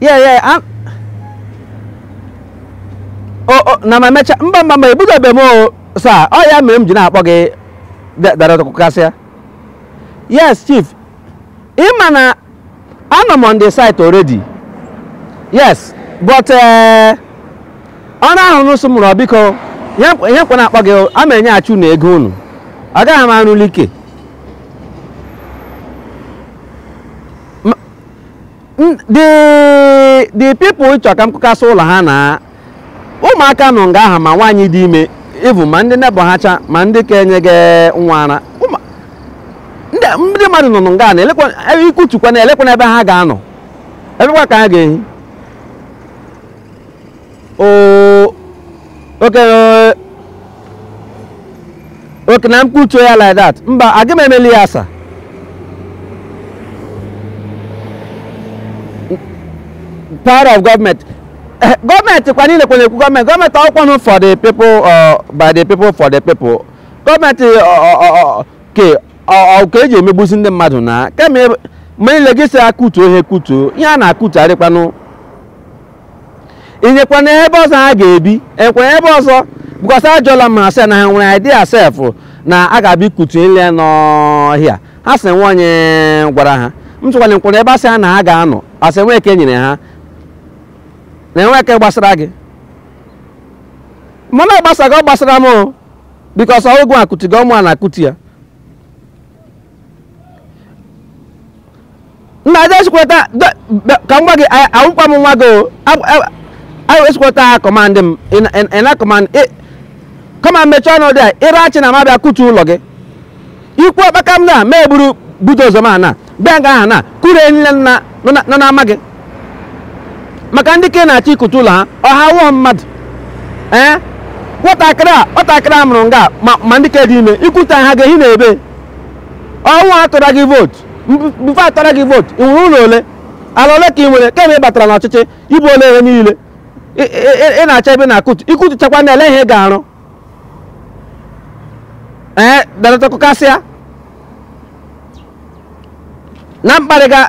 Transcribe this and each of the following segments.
yeah yeah I'm... oh, oh, na ma mecha mba mba mba ebidobe m o sir ọ ya mere m ji na-akpọ gị Director Kụkasịa yes chief ị ma na anọ m on the site already yes but eh, ọrụ ahụ unu sị m rụọ biko ihe ka m na-akpọ gị a m enyeghachi unu ego unu agaghị m arụli ike Ma- n- the the people ị chọrọ ka m kụkasịa ụlọ ha na ụmụaka nọ nga ahụ ma nwaanyị dị ime even ma ndị nebọ ha cha ma ndị ka enyega nwa ara Ụmụ- ndị ndị mmadụ nọ nga na elekwa ebe ị kụtukwa na elekwa n'ebe ha ga-anọ ebekwa ka ha ga-ehi Oh, okay, uh, okay, na m kụtuo ya like that. Mba, aga m emeli ya sir. Power of government. Eh, Gọọmenti kwa niile kwa na-ekwu gọọmenti. Gọọmenti ọkwa nụ for the people, uh, by the people, for the people. Gọọmenti ọ- ọ- ọ- ọ- ke ọ- ọ- ka eji emegbusi ndị mmadụ na kemgbe mgbe niile gị si akụtu ihe kụtuo ihe a na-akụtugharịkwanụ i nyekwa nụ ebe ọzọ ha ga-ebi e nyekwara ebe ọzọ because ajụọla m ha sị na ha enweghị idea sef na a ga-abịa ịkụtu ihe nọ here ha sị nweghị onye gwara ha m sị kwanụ ọ kwanụ ebe a sị ha na ha ga-anọ ha sị nweghị nke e nyere ha na enweghị nke gbasara gị mana ọ gbasaghị gị ọ gbasara m o because ọ wụghị gị akụtu ya ọ mụa na-akụtu ya nna just wait ka m gwa gị awụkwa m nwa gị o anyị esikweta ha command m ị na command come on mechie ọnụ there ị na-achọ na m abịa kụtuo ụlọ gị i kwuo kpakam na ma eburu bulldozer m ana bịa nga ahụ na kụrie ihe niile nọ n'ama gị maka ndị ka ị na-achọ ịkụtu ụlọ ha ọ ha awụghị mmadụ ee nwatakịrị a nwatakịrị a mụrụ nga ma ma ndị ka dị ime ị kụtuo ha ga-ehi na ebe ọ wụ ha tụrụ gị vootu before atụra gị vootu ị nwere ụlọ ole ala ole ka ị nwere kemgbe ị batara n'ọchịchị i buola ihe niile ị- ị ị- ị na-achọ ebe na-akụtu ị kụtuchakwa nụ elee ihe ị ga-arụ ee Director Kụkasịa na mkparịga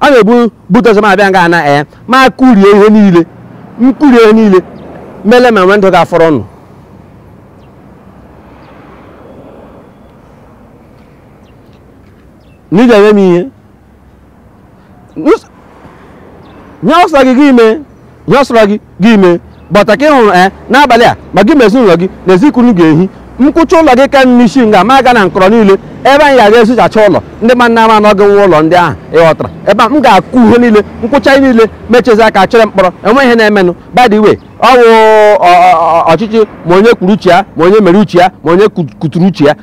a ga-ebu bulldozer m abịa nga ana ee ma kụrie ihe niile m kụrie ihe niile m lee ma nwe ndụ ga-afọrọ nụ na ị ga-eme m ihe Nus- ihe ọ sọ gị gị mee ihe ọ sọrọ gị gị mee but ka ị hụrụ ee n'abalị a ma gị ma ezinụlọ gị n'ezi ka unu ga-ehi m kụcha ụlọ gị ka n'isi nga ma aga na nkọrọ niile ebe anyị ga-aga esuchacha ụlọ ndị mmadụ na-ama na ọ gị nwe ụlọ ndị ahụ ị ghọtara ebe a m ga-akụ ihe niile m kụcha ihe niile m chezie aka chere mkpọrọ enwe ihe na-emenụ by the way ọ wụ ọ- ọ- ọ- ọchịchị ma onye kwuru uche ya ma onye mere uche ya ma onye ku- kuturu uche ya